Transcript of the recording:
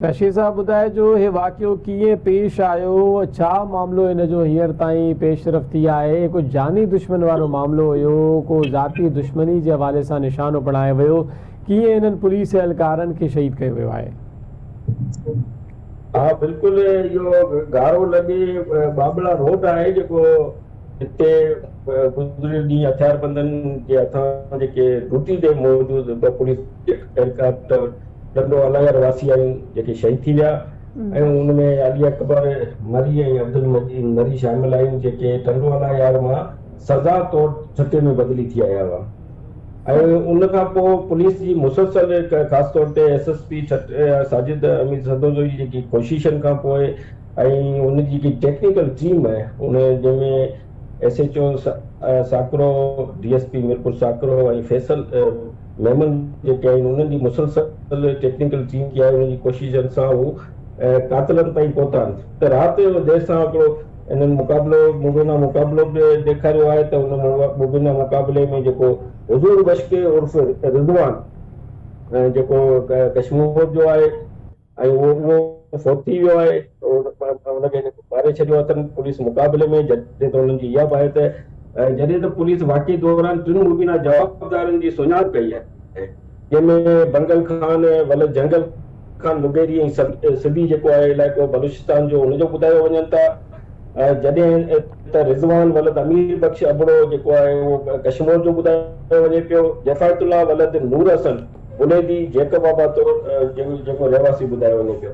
شير صاحب ٻڌائجو هي واقعو ڪيئن پيش آيو ڇا معاملو ان جو هينئر تائين پيش رفت ٿي آهي ڪو جاني دشمن وارو معاملو هيو ڪو ذاتي دشمني جي حوالي سان نشانو بڻايو ويو ڪيئن انهن پوليس اهلڪارن کي شهيد ڪيو ويو آهي. ها بلڪل اهو گارو لڳي ٻاٻلا روڊ آهي جيڪو هتي گذريل ڏينهن هٿياربندن جي هٿان جيڪي ڊيوٽي تي موجود ٻه پوليس اهلڪار ڏندو النگر واسي آهن جيڪي شهيد ٿي ويا ۽ ان ۾ علي اڪبر مري ۽ عبدالمجيد مري شامل آهن جيڪي ٽنڊو النگر مان سزا طور ٺٽي ۾ بدلي ٿي آيا هئا ۽ ان کان پوء پوليس جي مسلسل خاص طور تي S S P Thatta Sajid Amir Sarando جي جيڪي ڪوششن کان پوء ۽ ان جي جيڪي ٽيڪنيڪل ٽيم آهي ان جنهن ۾ S H O Sakro, D S P Mirpur Sakro ۽ Faisal Memon جيڪي آهن انهن جي مسلسل ٽيڪنيڪل ٽيم جي آهي انهن جي ڪوششن سان هو قاتلن تائين پهتا آهن ته رات جو دير سان هڪڙو انهن مقابلو مبينا مقابلو به ڏيکاريو آهي ته ان مبينا مقابلي ۾ جيڪو حضور بشڪي عرف رضوان جيڪو ڪشمور جو آهي ۽ اهو فوت ٿي ويو آهي ان کي ماري ڇڏيو اٿن پوليس مقابلي ۾ جڏهن ته انهن جي اها به آهي ته جڏهن ته پوليس واقعي دوران ٽن مبينا جوابدارن جي سڃاڻپ ڪئي آهي جنهن ۾ بنگل خان ولد جنگل خان مغيري ۽ سبي جيڪو آهي علائقو بلوچستان جو ان جو ٻڌايو وڃن ٿا جڏهن ته رضوان ولد امير بخش ابڙو جيڪو آهي اهو ڪشمور جو ٻڌايو وڃي پيو، جفايت الله ولد نور حسن بليدي جيڪب آباد جو جيڪو رهواسي ٻڌايو وڃي پيو.